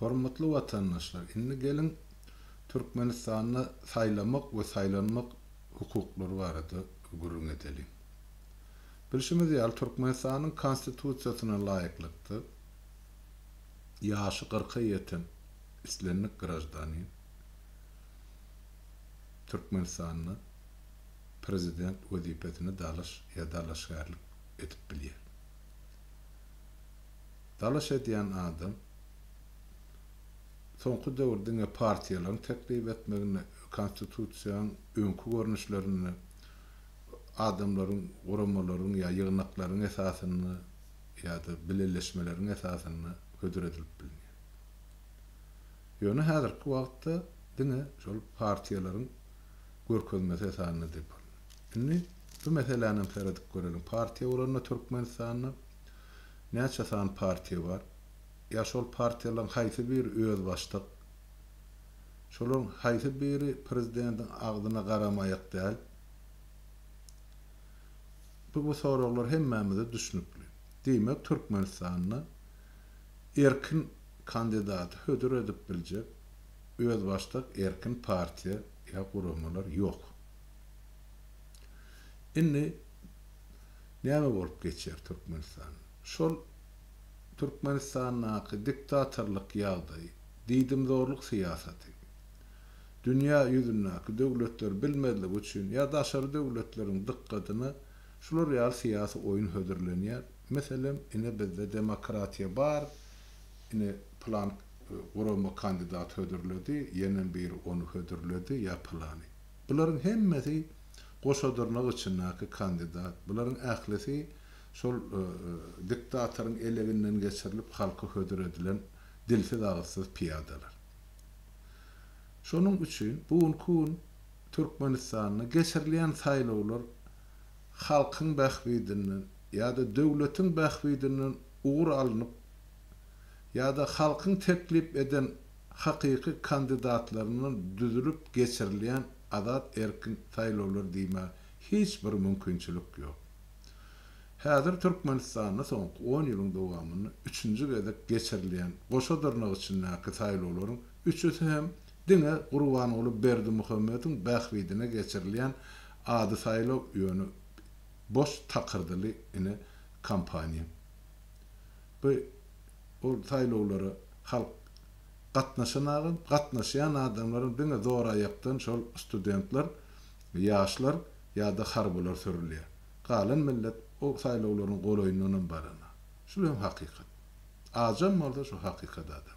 Hormatly watandaşlar, indi geliň Türkmenistanda saýlamak we saýlanmak hukuklary barada gürrüň edeliň. Bilşimiz ýaly, Türkmenistanyň Konstitusiýasyna laýyklykda, ýaşy kyrka ýeten islendik graždanin Türkmenistanda Prezident wezipesine dalaş ýa dalaşgärlik edip bilýär. Dalaş edýän adam soňky döwür diňe partiýalaryň teklip etmeginde Konstitusiýaň öňki görnüşlerinde adamlaryň, guramalaryň ýa ýygnaklaryň esasynda ýa-da bileleşmeleriň esasynda hödür edilip bilinýär. Ýöne häzirki wagtda diňe şol partiýalaryň görkezmesi esasynda dep alynýar. Indi bu meselänem seredip göreliň. Partiýa bolanda Türkmenistanda Näçe sany partiýa bar? Ýa şol partiýalaryň haýsy biri özbaşdak? Şolaryň haýsy biri prezidentiň agzyna garamaýak däl? Bu bu soraglar hemmämize düşnükli. Diýmek Türkmenistanda erkin kandidaty hödür edip biljek özbaşdak erkin partiýa ýa guramalar ýok. Indi näme bolup geçer Türkmenistan şol Türkmenistandaky diktatorlyk ýagdaýy diýdimzorlyk syýasaty dünýä ýüzündäki döwletler bilmezligi üçin ýa daşary döwletleriň dykgatyna şular ýaly syýasy oýun hödürlenýär meselem ine bizde demokratiýa bar ine pylan gurama kandidat hödürledi ýenem biri ony hödürledi ýa pylany. Bularyň hemmesi goşadyrnak içindäki kandidat. Bularyň ählisi şol diktatoryň eleginden geçirilip halka hödür edilen dilsiz-agyzsyz pyýadalar. Şonuň üçin bu günki gün Türkmenistanda geçirilýän saýlawlar halkyň bähbidinden ýa-da döwletiň bähbidinden ugur alnyp, ýa-da halkyň teklip eden hakyky kandidatlaryndan düzülip geçirilýän azat-erkin saýlawlar diýmäge hiç bir mümkinçilik ýok. Häzir Türkmenistanda soňky on ýylyň dowamynda üçünji gezek geçirilýän goşa dyrnak içindäki saýlawlaryň üçüsi hem diňe Gurbanguly Berdimuhamediň bähbidine geçirilýän ady saýlaw ýöne boş takyrdyly ine kampaniýa. Bu ol saýlawlara halk gatnaşanagam, gatnaşýan adamlaram diňe zoraýakdan şol studentler, ýaşlar ýa-da harbylar sürülýär. Galan millet o saýlawlaryň golaýyndanam baranok. Şul hem hakykat. Ajam bolsa şu hakykat adamlar.